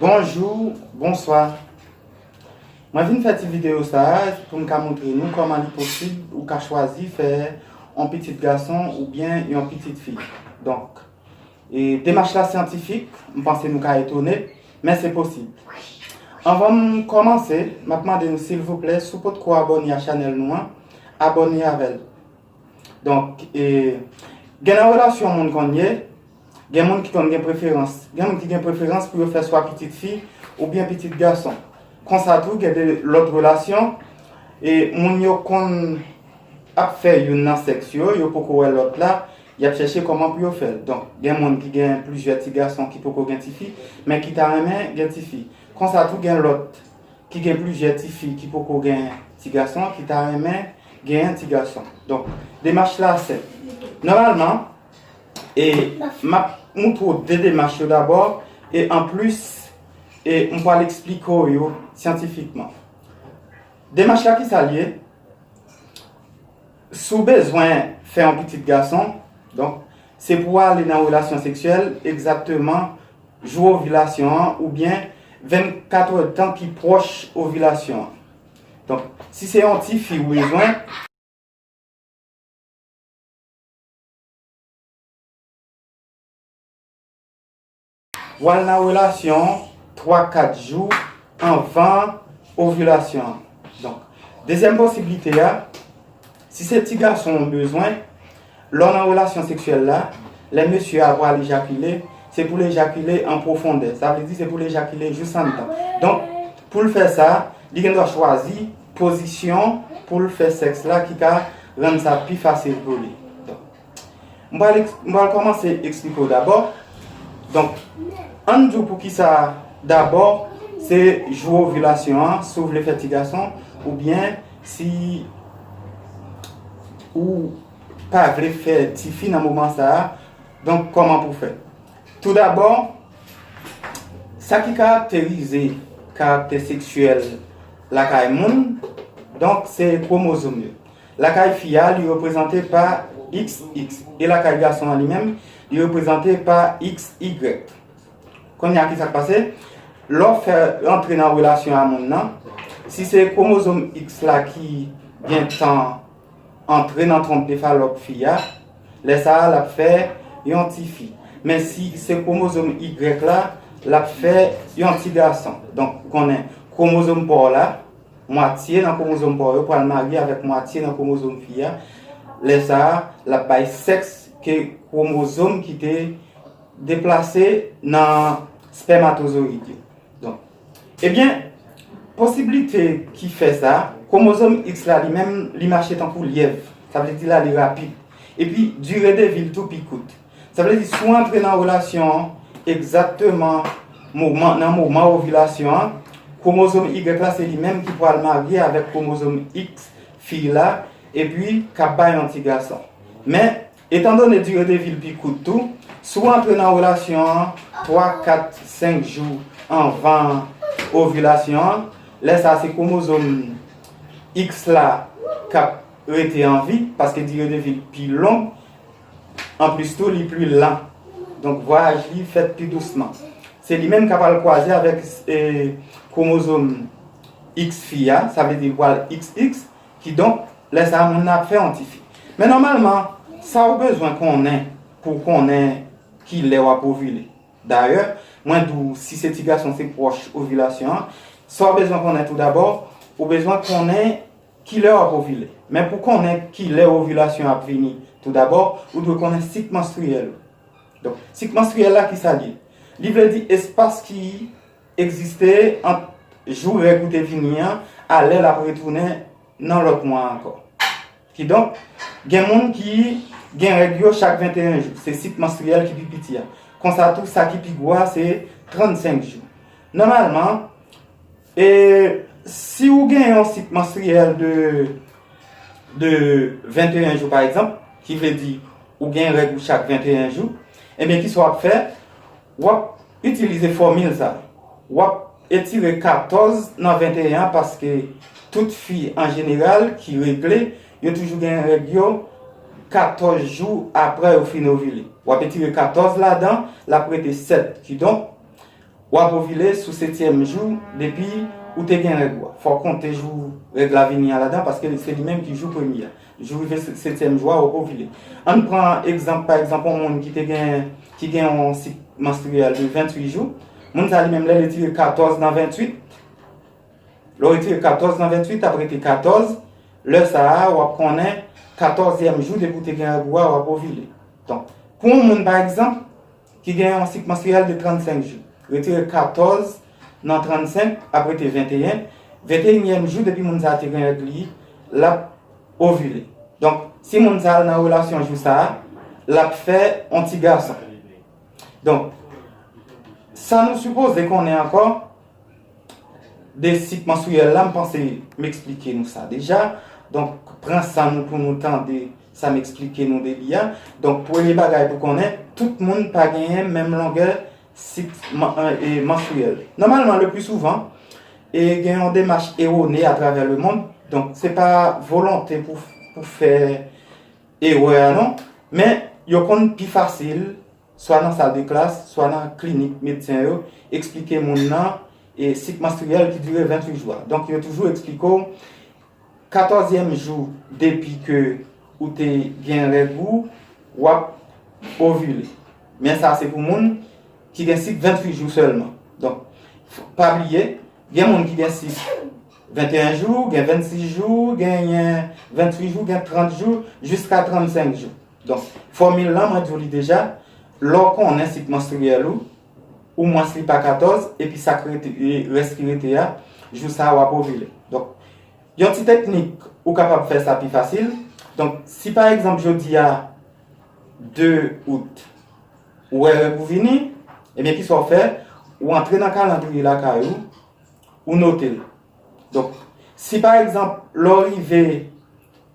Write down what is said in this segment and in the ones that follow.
Bonjou, bonswa, mwen vin fè ti videyo sa a pou m ka montre nou kòman li posib ou ka chwazi fè yon pitit gason oubyen yon pitit fi. E demach la syantifik, m panse nou ka etone, men se posib. Anvan m kòmanse, m ap mande nou silvouplè si w potko abòne a chanèl nou an, abòne avè l. Donk, e, gen nan relasyon moun konn ye, gen moun ki konn gen preferans. Gen moun ki gen preferans pou yo fè swa pitit fi oubyen pitit gason. Konsa tou gen de lòt relasyon, e, moun yo konn ap fè youn nan sèks yo, yo poko wè lòt la, Y ap chèche kòman pou yo fè l. Donk, gen moun ki gen plizyè ti gason ki poko gen tifi, men ki ta renmen gen tifi. Konsa tou gen lòt ki gen plizyè tifi ki poko gen ti gason, ki ta renmen genyen ti gason. Donk, demach la senp. Nòmalman, e m ap moutre w de demach yo dabò, e anplis, e m pral esplike w yo syantifikman. Demach la kisa l ye? Si w bezwen fè yon pitit gason, donk, se pou w ale nan relasyon seksyèl egzakteman jou ovilasyon an oubyen 24 èdtan ki pwòch ovilasyon an. Donk, si se yon tifi ou bezwen. Wal nan relasyon 3 4 jou anvan ovilasyon an. Donk dezyèm posiblite a si se ti gason ou bezwen lè w nan relasyon seksyèl la lè mesye a pral ejakile se pou l ejakile an pwofondè sa vle di se pou l ejakile jous anndan donk pou l fè sa li gen dwa chwazi pozisyon pou l fè sèks la ki ka rann sa pi fasil pou li. M pral m pral kòmanse eksplike w dabò. Donk, an n di w poukisa dabò se jou ovilasyon an, si w vle fè ti gason oubyen si ou pa vle fè tifi nan moman sa a, donk kòman pou w fè. Tou dabò, sa ki karakterize karaktè seksyèl lakay moun, donk se kwomozom yo. Lakay fi a, li reprezante pa xx. E lakay gason an li menm, li reprezante pa xy. Kounye a, ki sa k pase? Lè w fè rantre nan relasyon a moun nan, si se kwomozom x la ki gen tan antre nan twonp de falòp fi a, lè sa a l ap fè yon tifi. Men si se kwomozom y la, l ap fè yon tigason. Donk, ou konnen kwomozom pa w la. Mwatye nan kwomozom pa w yo pral marye avèk mwatye nan kwomozom fi a, lè sa a, l ap bay sèks ke kwomozom ki te deplase nan spèmatozoyid yo. Donk, ebyen, posiblite ki fè sa, kwomozom X la li menm li mache tankou lyèv, sa vle di la li rapid, epi dire de vi l tou pi kout. Sa vle di si w antre nan relasyon an egzakteman moman nan moman ovilasyon an, kwomozom Y la se li menm ki pral marye avèk kwomozom X fi la epi k ap bay yon ti gason. Men, etandone dire de vi l pi kout tou, si w antre nan relasyon an 3, 4, 5 jou anvan ovilasyon an, lè sa a se kwomozom X la k ap rete an vi paske dire de vi l pi long. Anplis tou li pli lan, donk vwayaj li fèt pi dousman. Se li menm k ap al kwaze avèk kwomozom X fi a, sa vle di li pral XX, kidonk lè sa a moun nan ap fè yon tifi. Men nòmalman, sa ou bezwen konnen pou w konnen ki lè w ap ovile, dayè mwen di w si se ti gason se pwòch ovilasyon an, sa w bezwen konnen toudabò, ou bezwen konnen Kilè w ap ovile? Men pou konnen kilè ovilasyon an ap vini, toudabò, ou dwe konnen sik manstriyèl ou. Donk, sik manstriyèl la ki sa l ye? Li vle di espas ki egziste ant jou règ ou te vini an a lè l ap retounen nan lòt mwa a ankò. Kidonk, gen moun ki gen règ yo chak 21 jou, se sik manstriyèl ki pi piti a. Konsa tou, sa ki pi gwo a se 35 jou. Nòmalman, E si ou gen yon sik manstriyèl de 21 jou pa egzanp, ki vle di ou gen règ ou chak 21 jou, ebyen kisa w ap fè, w ap itilize fòmil sa. W ap etire 14 nan 21 an paske tout fi an jeneral ki regle, yo toujou gen règ yo 14 jou apre yo fin ovile. W ap etire 14 ladan, l ap rete 7. Kidonk. W ap ovile sou setyèm jou depi ou te gen règ ou a. Fò w konte jou règ la vini a ladan paske se li menm ki jou premye a. Jou rive setyèm jou a, w ovile. An n pran egzanp, pa egzanp, yon moun ki gen yon sik manstriyèl de 28 jou. Moun sa a li menm lè l etire 14 nan 28, lè w etire 14 nan 28, ap rete 14. Lè sa a, w ap konnen katòzyèm jou depi ou te gen règ ou a, w ap ovile. Donk, pou yon moun pa egzanp. Ki gen yon sik manstriyèl de 35 jou. Retire 14 nan 35, ap rete 21. Venteyinyèm jou depi moun sa a te gen règ li, l ap ovile. Donk, si moun sa a al nan relasyon jou sa a, l ap fè yon ti gason. Donk, sa nou sipoze konnen ankò. De sik manstriyèl la, m panse m eksplike nou sa deja. Donk, pran san nou pou nou tande sa m eksplike nou de li a. Donk, premye bagay pou konnen, tout moun pa genyen menm longè sik manstriyèl. Nòmalman, le pli souvan, e gen yon demach ewone atravè le mond, donk se pa volonte pou fè erè a non, men yo konn pi fasil swa nan sal de klas, swa nan klinik medsen yo, eksplike moun nan e sik manstriyèl ki dire 28 jou a. Donk yo toujou eksplike w 14 yèm jou depi ke ou te gen règ ou, w ap ovile. Men sa se pou moun ki gen sik 28 jou sèlman. Donk, pa bliye, gen moun ki gen sik 21 jou, gen 26 jou, genyen 28 jou, gen 30 jou, jiska 35 jou. Donk, fòmil lan mwen di w li deja, lè w konnen sik manstriyèl ou, ou mwens li pa 14, epi sa k rete, rès ki rete a, jou sa a w ap ovile. Donk, yon ti teknik ou kapab fè sa pi fasil. Donk, si pa egzanp jodi a 2 out, ou wè règ ou vini, ebyen ki sa w fè, ou antre nan kalandriye lakay ou, ou note l. Donk, si pa egzanp, lè w rive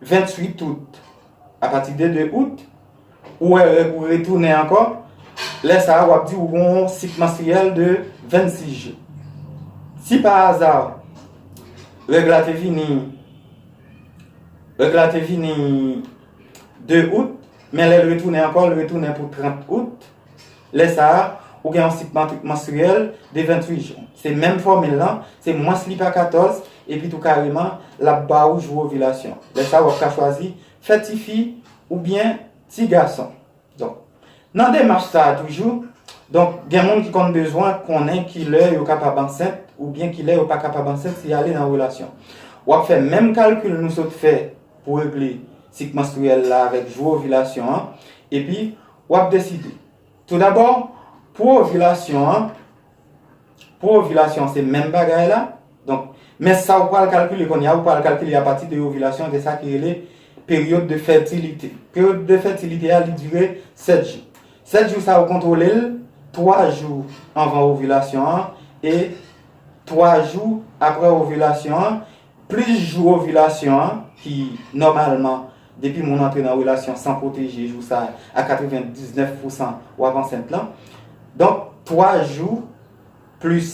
28 out, apati de 2 out, ou wè règ ou retounen ankò, lè sa a w ap di ou gen yon sik manstriyèl de 26 jou. Si pa aza, règ la te vini, règ la te vini 2 out, men lè l retounen ankò, l retounen pou 30 out, Lè sa a, ou gen yon sik manstriyèl de 28 jou. Se menm fòmil lan, se mwens li pa 14, epitou kareman, l ap ba ou jou ovilasyon. Lè sa a, w ap ka chwazi fè tifi oubyen tigason. Donk, nan demach sa a toujou, donk gen moun ki konn bezwen konnen kilè yo kapab ansent oubyen kilè yo pa kapab ansent si y ale nan relasyon. W ap fè menm kalkil nou sot fè pou regle sik manstriyèl la avèk jou ovilasyon an, epi W ap deside. Toudabò, pou ovilasyon an, pou ovilasyon an se menm bagay la, donk, men sa ou pral kalkile kounye a, ou pral kalkile apati de ovilasyon an, gen sa ki rele peryòd de fètilite. Peryòd de fètilite a, li dire 7 jou. 7 jou sa a ou kontwole l, 3 jou anvan ovilasyon an e 3 jou apre ovilasyon an, Plis jou ovilasyon an, ki nòmalman depi moun antre nan relasyon san pwoteje jou sa a 99 pousan w ap ansent lan. Donk 3 jou plis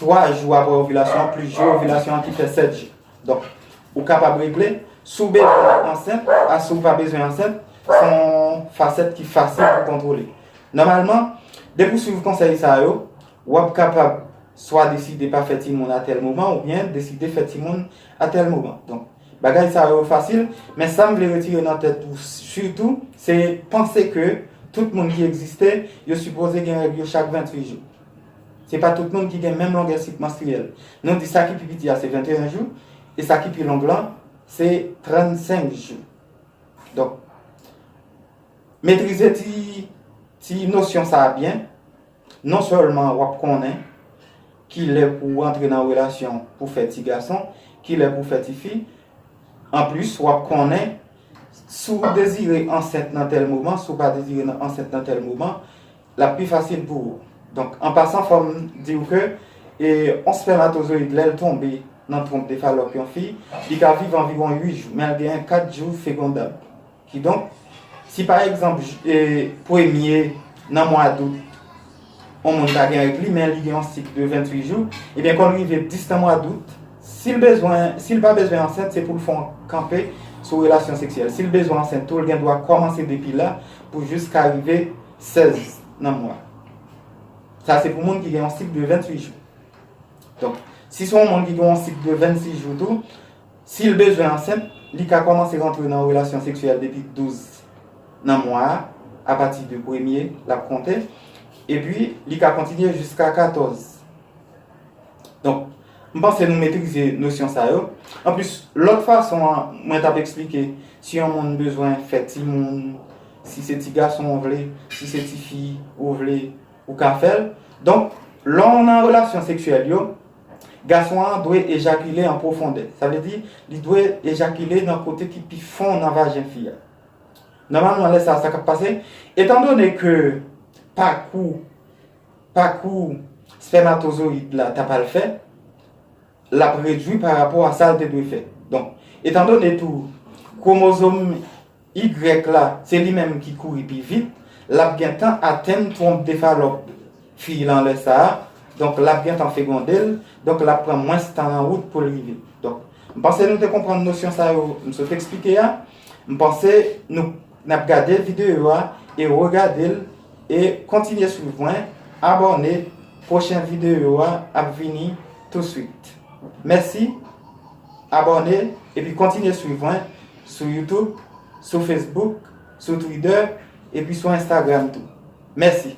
3 jou aprè ovilasyon an plis jou ovilasyon an ki fè 7 jou. Donk ou kapab regle si w bezwen ansent a si w pa bezwen ansent, se yon fasèt ki fasil pou kontwole. Nòmalman depi w swiv konsèy sa yo, W ap kapab swa deside pa fè timoun a tèl moman oubyen deside fè timoun a tèl moman. Donk, bagay sa yo fasil, men sa m vle retire nan tèt ou sitou, se panse ke tout moun ki egziste, yo sipoze gen règ yo chak 28 jou. Se pa tout moun ki gen menm longè sik manstriyèl. Nou di sa ki pi piti a se 21 jou, e sa ki pi long lan se 35 jou. Donk, metrize ti nosyon sa a byen, Non sèlman wap konnen kilè pou w antre nan relasyon pou fè ti gason, kilè pou fè ti fi, anplis wap konnen si w dezire ansent nan tèl moman, si w pa dezire ansent nan tèl moman, lap pi fasil pou ou. Donk an pasan fò m di w ke yon spèmatozoyid lè l tonbe nan twonp de falòp yon fi, li ka viv anviwon 8 jou, men l genyen 4 jou fekondab. Kidonk, si pa egzanp premye nan mwa dout yon moun ta gen règ li men li gen yon sik de 28 jou, ebyen kon rive 10 nan mwa dout, si l bezwen, si l pa bezwen ansent se pou l fè yon kanpe sou relasyon seksyèl. Si l bezwen ansent tou l gen dwa kòmanse depi la pou jiska rive 16 nan mwa. Sa se pou moun ki gen yon sik de 28 jou. Donk, si se yon moun ki gen yon sik de 26 jou tou, Si l bezwen ansent, li ka kòmanse rantre nan relasyon seksyèl depi 12 nan mwa a, apati de premye l ap konte, epi li ka kontinye jiska 14. Donk, m panse nou metrize nosyon sa yo. Anplis, lòt fason an, mwen t ap eksplike si yon moun bezwen fè timoun, si se ti gason ou vle, si se ti fi ou vle, ou ka fè l. Donk, lè w nan relasyon seksyèl yo. Gason an dwe ejakile an pwofondè. Sa vle di, li dwe ejakile nan kote ki pi fon nan vajen fi a. Nòmalman lè sa a sa k ap pase, etandone ke pakou pakou spèmatozoyid la ta pral fè, l ap redui parapò a sa l te dwe fè. Donk, etandone tou kwomozom Y la, se li menm ki kouri pi vit, l ap gentan atenn twonp de falòp fi lan lè sa a, donk l ap gentan fegonde l, donk l ap pran mwens tan lan wout pou l rive. Donk, m panse nou te konprann nosyon sa yo m sot eksplike a. M panse nou n ap gade videyo a e regade l e kontinye swiv mwen, abòne, pwochen videyo a ap vini touswit. Mèsi, abòne epi kontinye swiv mwen Sou YouTube, sou Facebook, sou Twitter, epi sou Instagram tou. Mèsi!